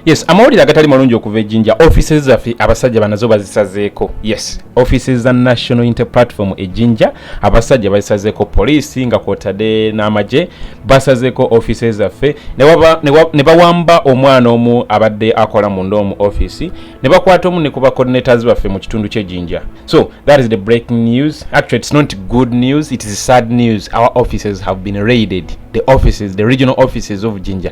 yes amawulire agatali malungi okuva ejinja offices zaffe abasajja banazo bazisazeeko yes offices za national inter platform ejinja abasajja bazisazeeko poliisi nga kwotadde n'amagye basazeeko offices zaffe ne bawamba omwana omu abadde akola munda omu office ne bakwata omu ne ku bacoordinators baffe mu kitundu ky'ejinja so that is the breaking news actually it's not good news it is sad news our offices have been raided the offices the regional offices of jinja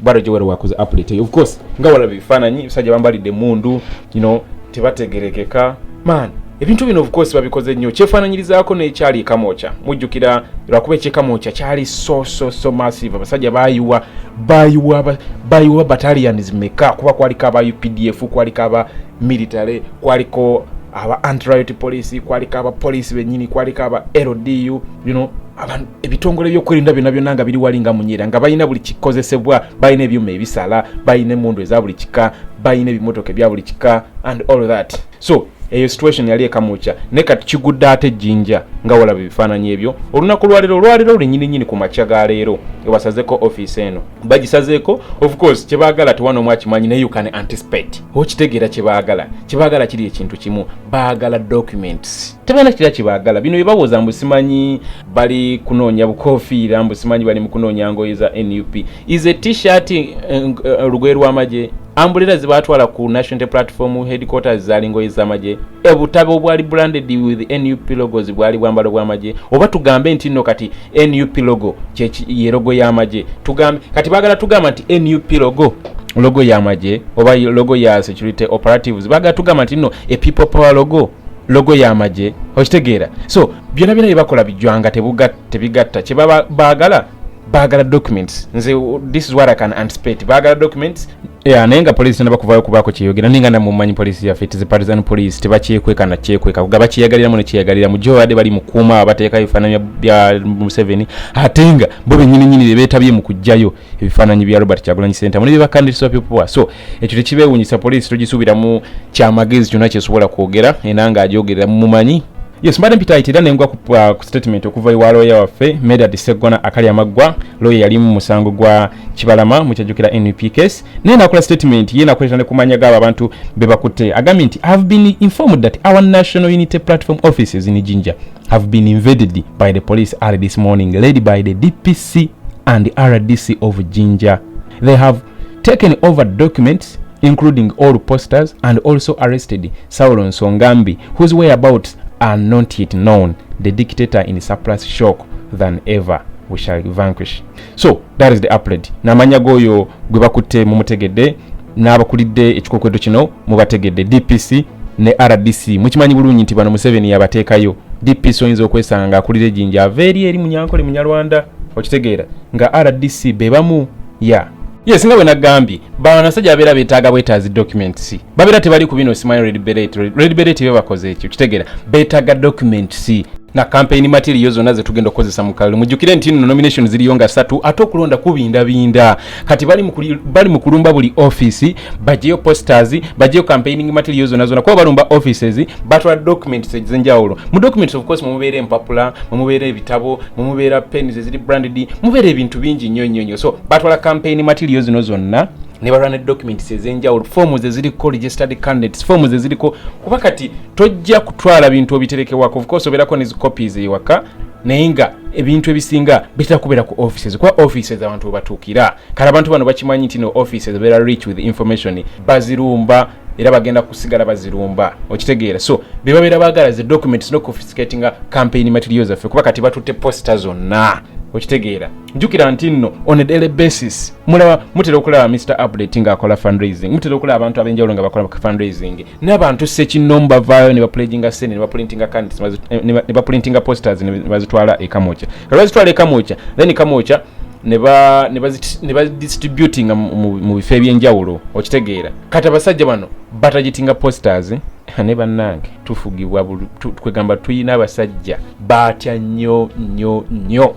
bwatyo gyewere wakoze update of course nga walaba ebifaananyi ebisajja bambalidde emundu you know tebategerekeka man ebintu bino of course babikoze nnyo kyefaananyirizaako n'ekyali ekamwokya mujjukira lwakuba ekyekamwokya kyali so so so massive abasajja bayiwa bayiwa bayiwa batalians meka kuba kwaliko aba updf kwaliko aba military kwaliko aba antriot police kwaliko aba police benyini kwaliko aba ldu you know, ebitongole byokwerinda byona byona nga biri wali nga munyera nga balina buli kikozesebwa balina ebyuma ebisala balina emundu eza buli kika balina ebimotoka ebya buli kika and all that so eyo situation yali ekamukya naye kati kigudde ate ejjinja nga walaba ebifaananyi ebyo olunaku lwalero olwalero lulinyininyini ku makya ga leero ewasazeko ofiisi eno bagisazeeko of course kyebaagala tewana omu akimanyi naye you can anticipate okitegeera kyebaagala kyebaagala kiri ekintu kimu baagala documents tebalina kira kyebaagala bino byebawoza mbu simanyi bali kunoonya bukofiira mbu simanyi bali mu kunoonya ngoye za nup is a t-shirt eh, eh, olugoye lw'amagye ambulera zebatwala ku national platform headquarters zali ngoye z'amagye obutabo obwali branded with nup logos bwali bwambalo bw'amagye oba tugambe nti nno kati nup logo ye logo y'amagye tugambe kati bagala tugamba nti nup logo logo y'amagye oba logo ya security operatives bagala tugamba nti no a people power logo logo y'amagye okitegeera so byona byona byebakola bijwanga tebigatta kyebaba bagala bagala documents nze this is what i can anticipate bagala documents Yeah, naye nga poliisi tena bakuvayo kubaako kyeyogera naye nga namumanyi poliisi yaffe tizi partisan poliisi tebakyekweka na kyekweka kuga bakyeyagaliramu nekyeyagaliramu jo badde bali mukuuma bateekayo ebifaananyi bya museveni ate nga bo benyininyini bebeetabye mu kujjayo ebifaananyi bya robert kyagulanyi sentamu ne byebakandirisibwa pyopoa so ekyo tekibeewunyisa poliisi togisuubiramu kyamagezi kyonna kyesobola kwogera era nga agyogerera mumanyi Yes, mbadde mpitaayita era nengwa ku, uh, ku statement okuva ewa looya waffe Medard Seggona akali amaggwa looya yali mu musango gwa Kibalama mukyajjukira NUP case naye nakola statement ye nakoleta ne kumanya gaabo abantu be bakutte agambye nti have been informed that our national unity platform offices in Jinja have been invaded by the police early this morning led by the DPC and RDC of Jinja they have taken over documents including all posters and also arrested Saulo Nsongambi, whose whereabouts are not yet known, the dictator in surplus shock than ever. We shall vanquish. So that is the upload. Namanya goyo gwe bakutte mumutegedde n'abakulidde ekikokwedo kino mubategedde DPC ne RDC mukimanyi bulungi nti bano Museveni yabateekayo DPC oyinza okwesanga ng'akulira ejinja ava eri eri munyankole munyarwanda okitegeera nga RDC be bamu ya yeah. yes nga bwe nagambye banasajja babeera betaaga bwetaazi documents babeera tebali ku bino simanyi red beret red beret be bakoze ekyo kitegera betaaga documents na campaign material zonna zetugenda okukozesa mu kalulu mujjukire nti no nomination ziriyo nga satu ate okulonda kubindabinda kati bali mu kulumba buli office bajeyo posters bajeyo campaigning material zonna zonna kuba balumba offices batwala documents ezenjawulo mu documents of course mumubeera empapula mumubeera ebitabo mumubeera pens eziri branded mubeera ebintu bingi nnyo nnyo nnyo so batwala campaign material zino zonna ne balwana documents ez'enjawulo foomu ze ziriko registered candidates foomu ze ziriko kuba kati tojja kutwala bintu obiterekewako of course obeerako ne zicopies ewaka naye nga ebintu ebisinga bitera kubeera ku offices kuba offices abantu webatuukira kale abantu bano bakimanyi nti no offices beera rich with information bazirumba era bagenda kusigala bazirumba okitegeera so bebabeera bagala ze documents no confiscatinga campaign material zaffe kuba kati batutte posta zonna okitegeera njukira nti nno on a daily basis mulaba mutera okulaba mr update nga akola fundraising mutera okulaba abantu abenjawulo nga bakola fundraising n'abantu sekinnomu bavaayo ne bapulaginga sente ne baprintinga candidates eh, ne baprintinga posters ne bazitwala ekamokya kati bazitwala ekamokya then kamokya ne badistributinga mu bifo ebyenjawulo okitegeera kati abasajja bano batagitinga posters ne bannange tufugibwa kwegamba tuyina abasajja baatya nnyo nnyo nnyo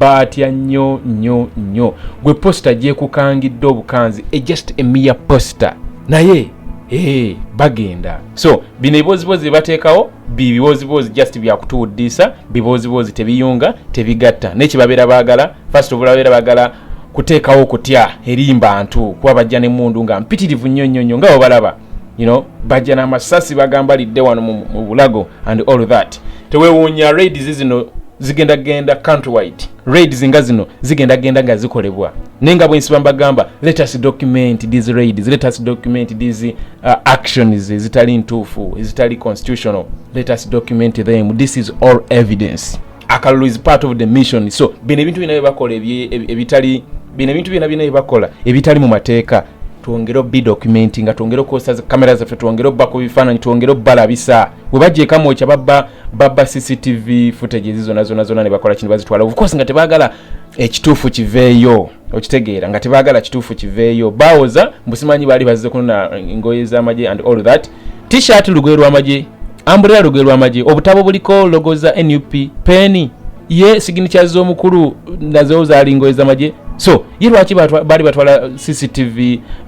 baatya nnyo nnyo nnyo gwe posita gyekukangidde obukanzi e just emiya posita naye ee bagenda so bino ebibooziboozi byebateekawo bibibooziboozi just byakutuwuddiisa bibooziboozi tebiyunga tebigatta naye kyebabeera baagala first of all babeera baagala kuteekawo okutya eri mbantu kuba bajja nemundu nga mpitirivu nnyo nnyo nnyo nga webalaba you know bajja n'amasasi bagamba lidde wano mu bulago and all that tewewuunya raids zino zigenda genda country wide raids nga zino zigenda genda nga zikolebwa naye nga bwensiba mbagamba let us document these raids let us document these uh, actions zitali ntuufu zitali constitutional let us document them this is all evidence akalulu is part of the mission so bino ebintu byona byebakola ebitali bino ebintu byona byona byebakola ebitali mu mateeka twongere obi dokumenti nga twongere okukozesa zikamera zaffe twongere obba ku bifaananyi twongere obbalabisa webajja ekamwokya babba babba cctv footage ezi zona zona zona nebakola kino bazitwala ofcourse nga tebagala ekituufu kiveeyo okitegeera nga tebagala kituufu kiveeyo bawoza mbusimanyi baali bazze kunona ngoye z'amagye and all that t-shirt lugwe lwamagye ambulera lugwe lwamagye obutabo buliko logo za nup peni ye siginicha z'omukulu nazo zalingoye zamagye so ye lwaki baali batwala cctv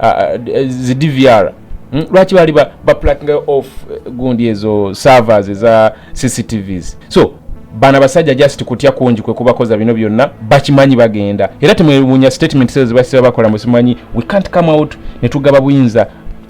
uh, uh, zi dvr hmm? lwaki baali baplakinga off uh, gundi ezo servers eza cctvs so bana basajja just kutya kungi kwe kubakoza bino byonna bakimanyi bagenda era temwewunya statement zezo zebasiba bakola musimanyi we can't come out netugaba buyinza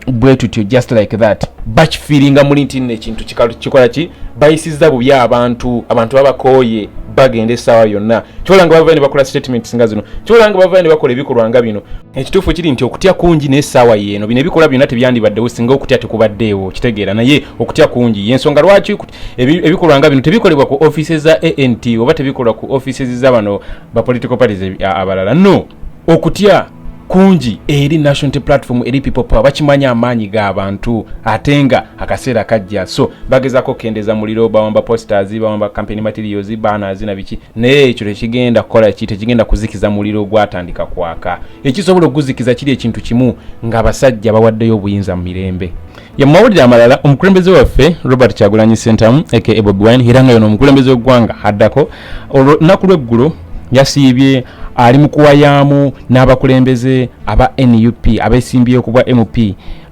bwe tutyo just like that bakifiiringa muli nti nno ekintu kikola ki bayisizza bubi abantu abantu babakooye bagenda essaawa yonna kyolanga bavayo ne bakola statements nga zino kyolanga bavayo ne bakola ebikolwa nga bino ekituufu kiri nti okutya kungi n'essaawa yeeno bino ebikolwa byonna tebyandibaddewo singa okutya tekubaddeewo kitegeera naye okutya kungi yensonga lwaki ebikolwa nga bino tebikolebwa ku offices za ant oba tebikolwa ku offices za bano ba political parties abalala no okutya kungi eri national platform eri people power bakimanya amaanyi ga bantu ate nga akaseera kajja so bagezako okukendeza muliro bawamba posters bawamba campaign materials banners na biki naye ekyo tekigenda kukola ki tekigenda kuzikiza muliro gwatandika kwaka ekisobola okuguzikiza kiri ekintu kimu nga abasajja bawaddeyo obuyinza mu mirembe ya mawulire amalala omukulembeze waffe robert kyagulanyi sentamu aka bobi wine era nga yono omukulembeze w'eggwanga addako olunaku lweggulo yasiibye ali mu kuwayaamu n'abakulembeze aba nup abesimbye ku bwa mp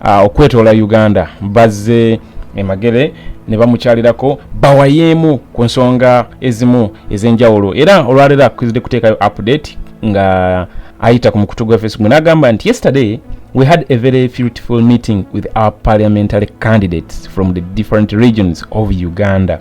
uh, okwetoola uganda bazze emagere ne bamukyalirako bawayeemu ku nsonga ezimu ez'enjawulo era olwaleero akizidde kuteekayo update nga ayita ku mukutu gwa facebook n'agamba nti yesterday we had a very fruitful meeting with our parliamentary candidates from the different regions of uganda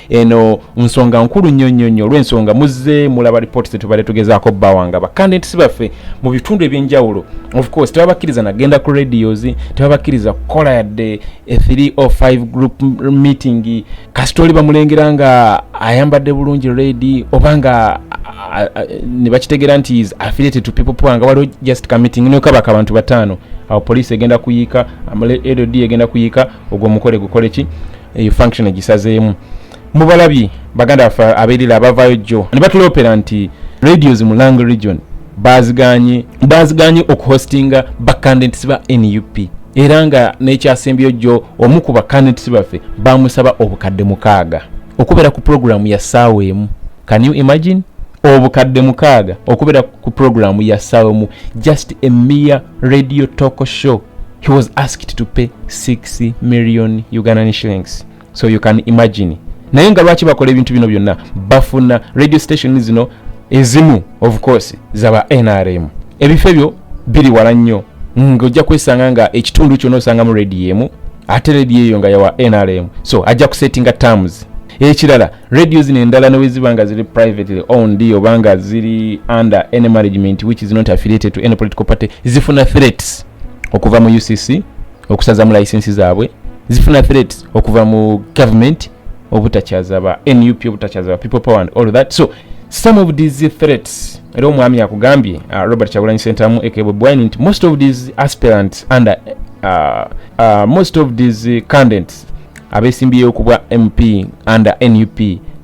eno nsonga nkulu nnyo nnyo nnyo olw'ensonga muzze mulaba lipooti zetubadde tugezaako bawanga bakandidati baffe mu bitundu ebyenjawulo ofcourse tebabakkiriza nagenda ku radios tebabakkiriza kukola yadde e 3 o 5 group meeting kasita oli bamulengera nga ayambadde bulungi redi oba nga ne bakitegera nti is affiliated to people power nga waliwo just ka meeting nokabaka abantu bataano awo poliisi egenda kuyiika amale lod egenda kuyiika ogwo omukole gukole ki eyo function egisazeemu mubalabi baganda baffe aberira abavaayo jjo ne batuloopera nti radios mu lang region baziganye baziganye okuhostinga bacandidats ba nup era nga n'ekyasembyeyo jjo omu ku bacandidats baffe bamusaba obukadde mukaaga okubeera ku puroguramu ya ssaawa emu can you imagine obukadde mukaaga okubeera ku puroguramu ya ssaawa emu just a mere radio talk show he was asked to pay 6 million ugandan shillings so you can imagine naye nga lwaki bakola ebintu bino byonna bafuna radio station zino ezimu of course zaba nrm ebifo ebyo biri wala nnyo ng'ojja kwesanga nga ekitundu kyona osangamu rediyo emu ate rediyo eyo nga yawa nrm so ajja kusettinga terms ekirala radio zino endala neweziba nga ziri privately owned oba nga ziri under any management which is not affiliated to any political party zifuna threats okuva mu ucc okusazamu license zaabwe zifuna threats okuva mu government obutakyaza ba nup obutakyaza ba people power and all that so some of these threats era omwami yakugambye uh, robert kyagulanyi sentamu ekebwebwine nti most of these aspirants under uh, uh, most of these candidants abesimbyeyo ku bwa mp under nup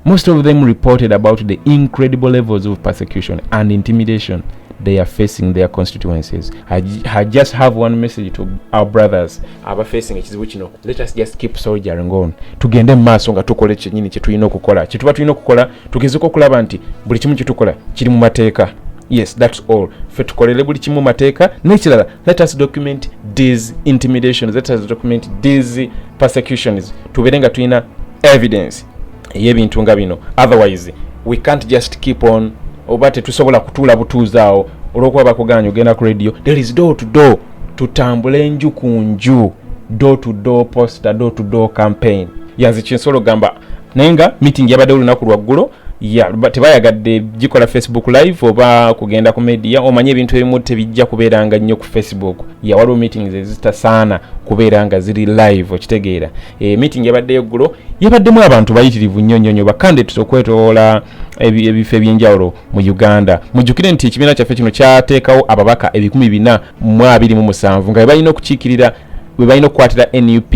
most of them reported about the incredible levels of persecution and intimidation they are facing their constituencies I, I just have one message to our brothers aba facing ekizibu kino let us just keep soldiering on tugende mu maaso nga tukola ekyenyini kyetulina okukola kyetuba tulina okukola tugezeko okulaba nti buli kimu kyetukola kiri mu mateeka yes thats all fe tukolere buli kimu mateeka nekirala let us document these intimidations let us document these persecutions tubeere nga tulina evidence eyebintu nga bino otherwise we can't just keep on oba tetusobola kutuula butuuzi awo olwokuba bakuganya ogenda ku radio there is door to door tutambule enju ku nju door to door poster door to door campaign yanze kinsolo gamba naye nga meeting yabaddewo olunaku lwaggulo ya tebayagadde gikola facebook live oba kugenda ku media omanye ebintu ebimu tebijja kubeera nga nnyo ku facebook ya waliwo meetings ezitasaana kubeera nga ziri live okitegeera e, meeting yabadde eggulo yabaddemu abantu bayitirivu nnyo nnyo nnyo bakandidates okwetoola ebifo ebyenjawulo mu uganda mujjukire nti ekibiina kyaffe kino kyateekawo ababaka ebikumi bina mu abiri mu musanvu nga bebalina okukiikirira bebalina okukwatira nup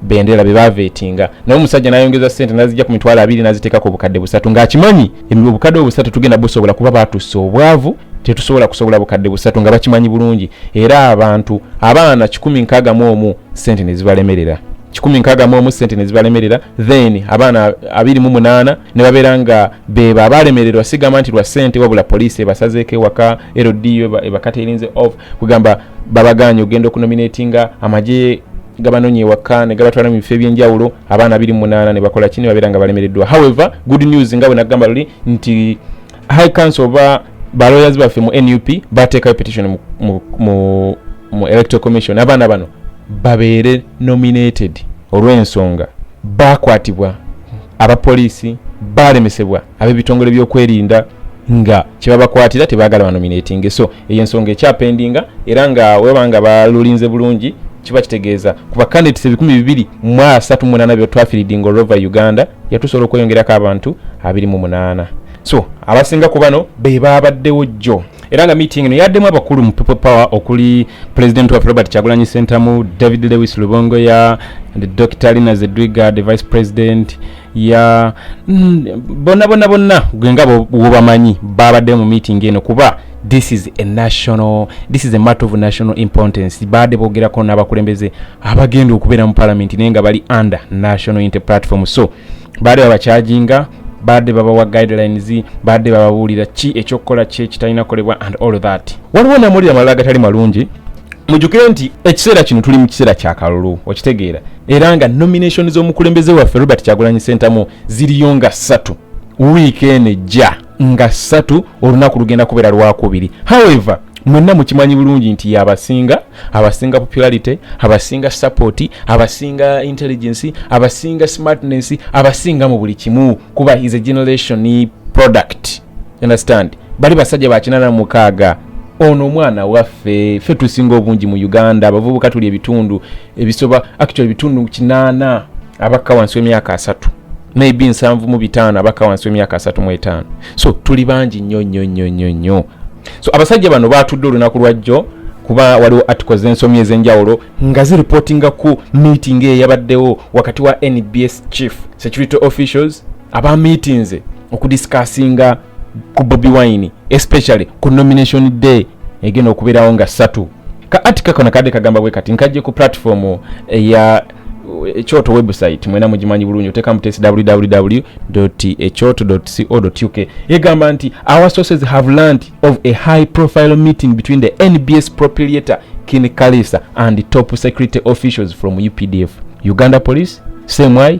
bendera bebavetinga naye omusajja nayongeza sente nazijja ku mitwalo abiri naziteeka ku bukadde busatu ng'akimanyi obukadde obusatu tugenda busobola kuba batussa obwavu tetusobola kusobola bukadde busatu nga bakimanyi bulungi era abantu abaana kikumi nkaaga mu omu sente nezibalemerera kikumi nkaaga mu omu sente nezibalemerera then abaana abiri mu munaana ne babeera nga bebo abalemererwa sigamba nti lwa sente wabula poliisi ebasazeeko ewaka ldu ebakaterinze off kugamba babaganye ogenda okunominatinga amagye gabanonye ewaka negabatwala mu bifo ebyenjawulo abaana abiri munaana nebakola ki nebabeera nga balemereddwa however good news nga bwenagamba luli nti high council oba balawyers baffe mu nup bateekayo petition mu, mu, mu, mu electoral commission abaana bano babeere nominated olw'ensonga bakwatibwa abapoliisi balemesebwa ab'ebitongole by'okwerinda nga kyebabakwatira tebagala banominatinge so eyo ensonga ekyapendinga era nga weba nga balulinze bulungi kiba kitegeeza ku bacandidates ebikumi bibiri mu asatu munaana byetwafiridinga olwova uganda yatusobola okweyongerako abantu abiri mu munaana so abasinga ku bano be baabaddewo jjo era nga meeting eno yaddemu abakulu mu people power okuli president waffe robert kyagulanyi sentamu david lewis lubongoya dr lina zedwiga the vice president ya bonna bonna bonna gwe nga wobamanyi babadde mu meeting eno kuba this is a national this is a matter of national importance baadde bogerako n'abakulembeze abagenda okubeera mu palamenti naye nga bali under national inter platform so baadde babakyajinga baadde babawa guidelines baadde bababuulira ki ekyokukola ki ekitalina kolebwa and all that waliwo namawulire amalala agatali malungi mujukire nti ekiseera kino tuli mu kiseera kyakalulu okitegeera era nga nomination z'omukulembeze waffe robert kyagulanyi sentamu ziriyo nga ssatu wiiki eno ejja nga ssatu olunaku lugenda kubeera lwakubiri however mwenna mukimanyi bulungi nti abasinga abasinga popularity abasinga support abasinga intelligence abasinga smartness abasinga mu buli kimu kuba is a generation product understand bali basajja bakinana mukaaga ono omwana waffe ffe tusinga obungi mu uganda abavubuka tuli ebitundu ebisoba actually ebitundu kinaana abakka wansi w'emyaka asatu maybe nsanvu mu bitaano abakka wansi w'emyaka asatu mu etaano so tuli bangi nnyo nnyo nnyo nnyo nnyo so abasajja bano baatudde olunaku lwajjo kuba waliwo articles z'ensomyi ez'enjawulo nga ziripotinga ku meeting eyabaddewo wakati wa nbs chief security officials aba meetinze okudisikasinga ku bobi wine especially ku nomination day egenda okubeerawo nga satu ka atika kano kadde kagamba bwe kati nkajje ku platform eya ekyoto website mwena mugimanyi bulungi otekamu tesi www ekyoto co uk egamba nti our sources have learnt of a high profile meeting between the nbs propriator kin kalisa and top security officials from updf uganda police same way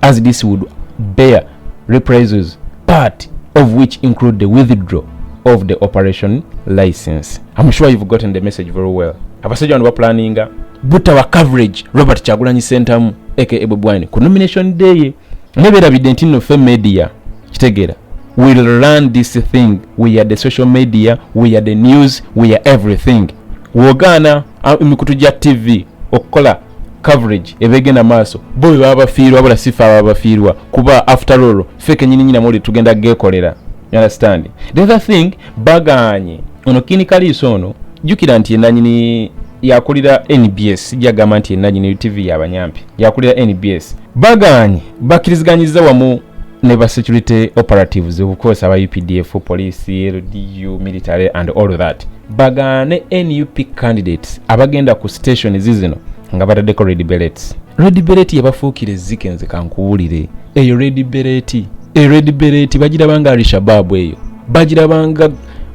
as this would bear reprisals part of which include the withdraw of the operation license i'm sure you've gotten the message very well abasajja bano baplaninga butawa coverage robert kyagulanyi sentamu aka ebwebwine ku nomination day ye neberabidde nti nno fe media kitegeera will run this thing we are the social media we are the news we are everything wogaana ah, emikutu gya tv okukola coverage eba egenda maaso bo bebaba bafiirwa wabula sifa ababa bafiirwa kuba after all fe kenyininyina muli tugenda gekolera understand the other thing baganye ono kini kaliiso ono jukira nti enanyini yakulira nbs jagamba nti enanyini tv yabanyampi yakulira nbs baganye bakiriziganyiza wamu ne ba security operatives okukozesa aba updf police ldu military and all that bagaane nup candidates abagenda ku station zizino nga bataddeko red bellets red bellet yabafuukira ezzike nze kankuwulire eyo red bellet e red bellet bagirabanga alishababu eyo bagirabanga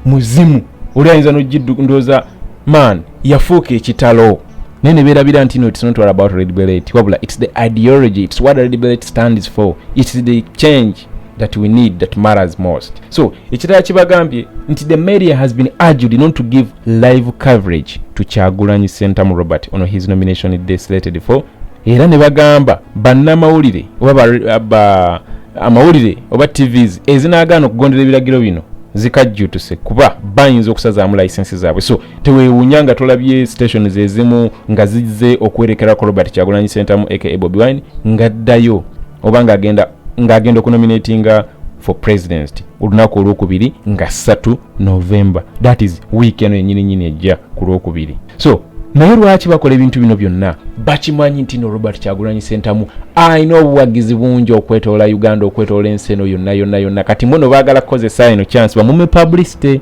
muzimu oli ayinza nogiddu ndooza man yafuuka ekitalo naye ne beerabira nti no it's not all about red beret wabula it's the ideology it's what red beret stands for it's the change that we need that matters most so ekirala kibagambye nti the media has been argued not to give live coverage to kyagulanyi sentamu robert on his nomination day slated for era ne bagamba bannamawulire oba ba, ba amawulire oba tvs ezinagaana okugondera ebiragiro bino zikajjutuse kuba bayinza okusazaamu layisensi zaabwe so tewewunya nga tolabye stations ezimu nga zizze okuwerekerako robert kyagulanyi sentamu aka bobi wine ngaddayo oba ngagenda ng'agenda okunominatinga for president olunaku olwokubiri nga ssatu november that is week eno yenyini nyini ejja ku lwokubiri so naye lwaki bakola ebintu bino byonna bakimanyi nti no robert kyagulanyi sentamu alina obuwagizi bungi okwetoola uganda okwetoola ensi eno yonna yonna yonna kati mwono baagala kukozesa eno chance bamume publicity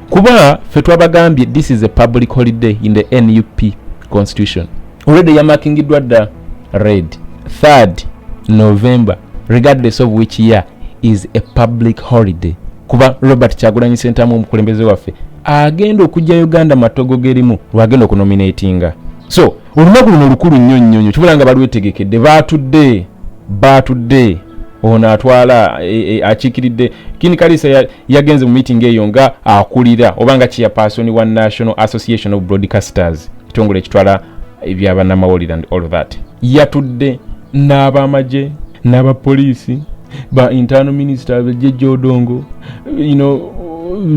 kuba fe twabagambye this is a public holiday in the nup constitution already yamakingiddwa dda red 3rd november regardless of which year is a public holiday kuba robert kyagulanyi sentamu omukulembeze waffe agenda okujja uganda matogo gerimu lwagenda okunominatinga so olunaku luno lukulu nnyo nnyo nnyo kibula nga balwetegekedde baatudde baatudde ono atwala e, e, akiikiridde kini kalisa yagenze mu meeting eyo nga akulira oba nga chairperson wa national association of broadcasters ekitongole ekitwala ebyabanamawulire and all that yatudde n'abamagye n'abapoliisi ba internal minister jeje odongo you know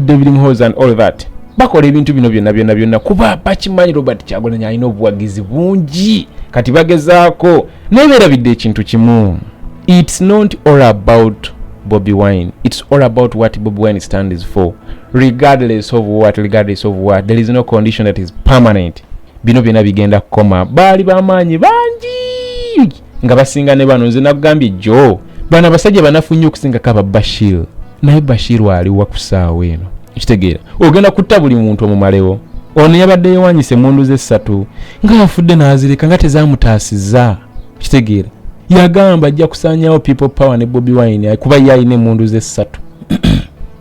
david mhos and all that bakola ebintu bino byonna byonna byonna kuba bakimanyi robert kyagulanyi alina obuwagizi bungi kati bagezaako naye berabidde ekintu kimu its not all about bobi wine its all about what bobi wine stands for regardless of what regardless of what there is no condition that is permanent bino byona bigenda kukoma baali bamaanyi bangi nga basinga ne bano nze nakugambye jo bano abasajja banafu nnyo okusingako aba bashir naye bashir aliwa ku saawa eno kitegeera ogenda kutta buli muntu omumalewo ono yabadde yewanyisa emundu ze ssatu ngaafudde n'azirika nga tezamutaasiza kitegeera yagamba ajja kusanyawo people power ne bobi wine kuba ye alina emundu ze ssatu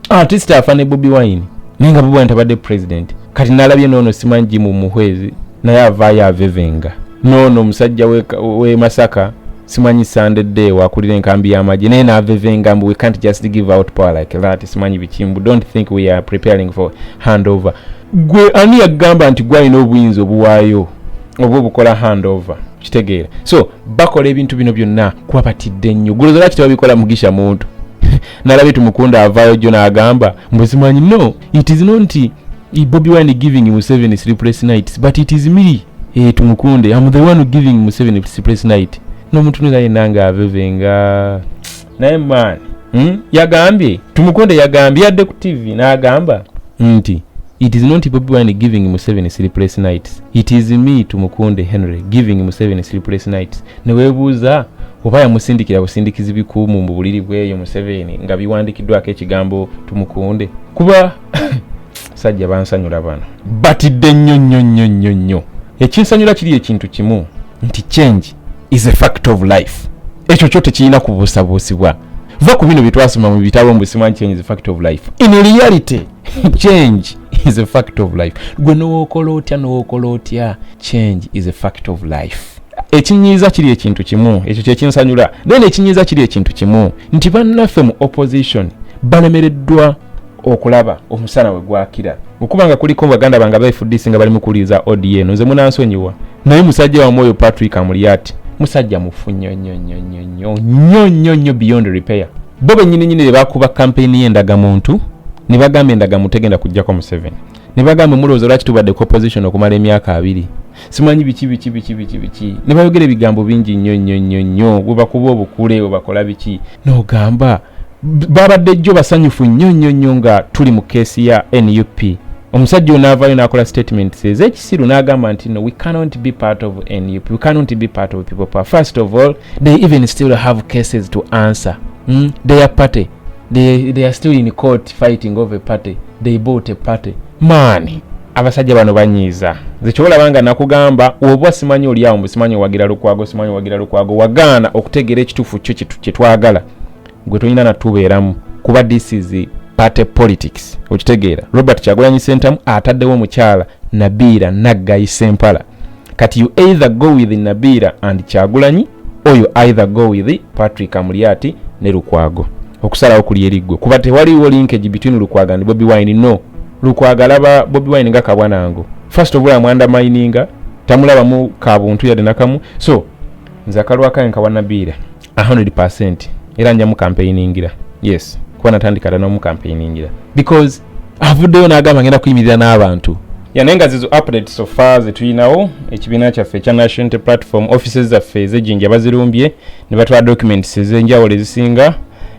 artist afa ne bobi wine naye nga bobi wine tabadde president kati nalabye noono simanyi jimu muhwezi naye avaayo avevenga noono omusajja we masaka simanyi sande day wakulira enkambi y'amagye naye navevenga mbu we can't just give out power like that simanyi bikimbu don't think we are preparing for handover gwe ani yagamba nti gwalina obuyinza obuwaayo oba obukola handover kitegeera so bakola ebintu bino byonna kuba batidde nnyo gulozolaki tebabikola mugisha muntu nalabye tumukunda avaayo jjo n'agamba mbuzimanyi no it is not nti bobi wine giving museveni sleepless nights but it is me eh, tumukunde am the one giving museveni sleepless night nomuntu nira yena nga avevenga naye man hmm? yagambye tumukunde yagambye yadde ku tv nagamba nti it is not bobi wine giving museveni sleepless nights It is me Tumukunde Henry giving Museveni sleepless nights. Newebuuza oba yamusindikira busindikizi bikuumu mu buliri bweyo Museveni nga biwandikiddwako ekigambo Tumukunde kuba sajja bansanyula bano batidde nnyo nnyo nnyo nnyo nnyo. Ekinsanyula kiri ekintu kimu nti change is a fact of life. Ekyo kyo tekirina kubuusabuusibwa. Va ku bino bye twasoma mu bitabo mbu simanyi change is a fact of life. In reality change is a fact of life gwe nowokola otya nowokola otya change is a fact of life ekinyiiza kiri ekintu kimu ekyo kyekinsanyula then ekinyiiza kiri ekintu kimu nti bannaffe mu opposition balemereddwa okulaba omusana we gwakira okuba nga kuliko baganda bange abaifudisi nga bali mukuwuliriza odn nze munansonyiwa naye musajja wamu oyo patrick amuliyati musajja mufu nnyo nnyo nnyo nnyo nnyo nnyo nnyo nnyo beyond repair bo bennyini nyini ne bakuba kampeyini y'endagamuntu ne bagamba endagamu tegenda kujjako museveni ne bagamba mulowooza lwaki tubadde ku opposition okumala emyaka abiri simanyi biki biki biki biki biki ne bayogera ebigambo bingi nnyo nnyo nnyo nnyo bwe bakuba obukule bwe bakola biki n'ogamba babadde jjo basanyufu nnyo nnyo nnyo nga tuli mu keesi ya nup omusajja onaavaayo n'akola statement seze Siru n'agamba nti no we cannot be part of nup we cannot be part of people power first of all they even still have cases to answer mm? their party they, they are still in court fighting over party they bought a party maani abasajja bano banyiiza zekyobolaba nga nakugamba oba simanyi olyawo mbu simanyi owagira lukwago simanyi owagira lukwago wagaana okutegeera ekituufu kyo kyetwagala gwe tolina natubeeramu kuba this is party politics okitegeera robert kyagulanyi sentamu ataddewo omukyala nabiira naggayi sempala kati you either go with nabiira and kyagulanyi or you either go with patrick amulyati ne lukwago okusalawo kuli eriggwe kuba tewaliwo linkage between lukwago and bobi wine no lukwago alaba bobi wine nga kabwanango first of all amwanda mininga tamulabamu kabuntu yadde nakamu so nze akalwakaye nkawa nabiira 100% era njamu campaigningira yes kuba natandika dda nomu campaigningira because avuddeyo n'agamba ngenda kuyimirira n'abantu yane nga zizo update sofa zetulinawo ekibiina kyaffe ekya nationality platform offices zaffe ezejinja bazirumbye ne batwala documents ezenjawulo ezisinga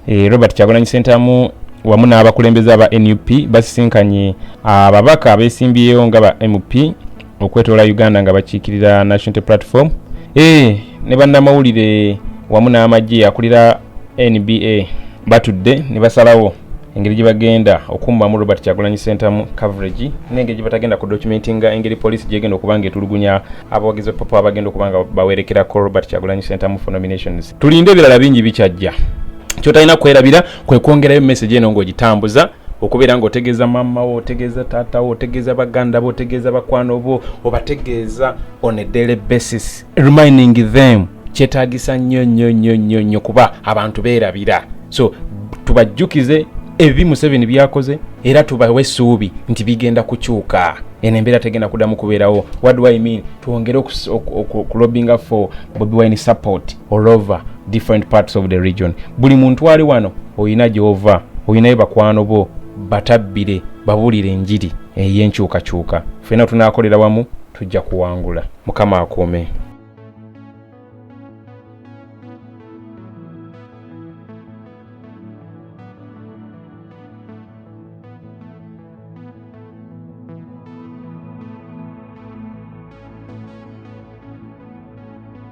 e, robert kyagulanyi sentamu wamu n'abakulembeze aba nup basisinkanye ababaka abesimbyeyo nga ba mp okwetoola uganda nga bakiikirira national platform e, ne bannamawulire wamu n'amagye akulira nba batudde ne basalawo engeri gye bagenda okummamu robert kyagulanyi sentamu coverage n'engeri gye batagenda ku dokumenti nga engeri poliisi gyegenda okuba nga etulugunya abawagizi bapapa abagenda okuba nga bawerekerako robert kyagulanyi sentamu for nominations tulinde ebirala bingi bikyajja kyotalina kwerabira kwekwongerayo message eno ng'ogitambuza okubeera nga otegeeza maama wo otegeeza taata wo otegeeza baganda bo otegeeza bakwano bo obategeeza on a daily basis reminding them kyetagisa nnyo nnyo nnyo nnyo nnyo kuba abantu beerabira so tubajjukize ebi museveni byakoze era tubawe essuubi nti bigenda kukyuka eno embeera tegenda kudamu kubeerawo what do i mean twongere okulobinga for bobi wine support all over different parts of the region buli muntu ali wano olina gyova olinayo bakwano bo batabbire babulire enjiri ey'enkyukakyuka fena tunakolera wamu tujja kuwangula mukama akuume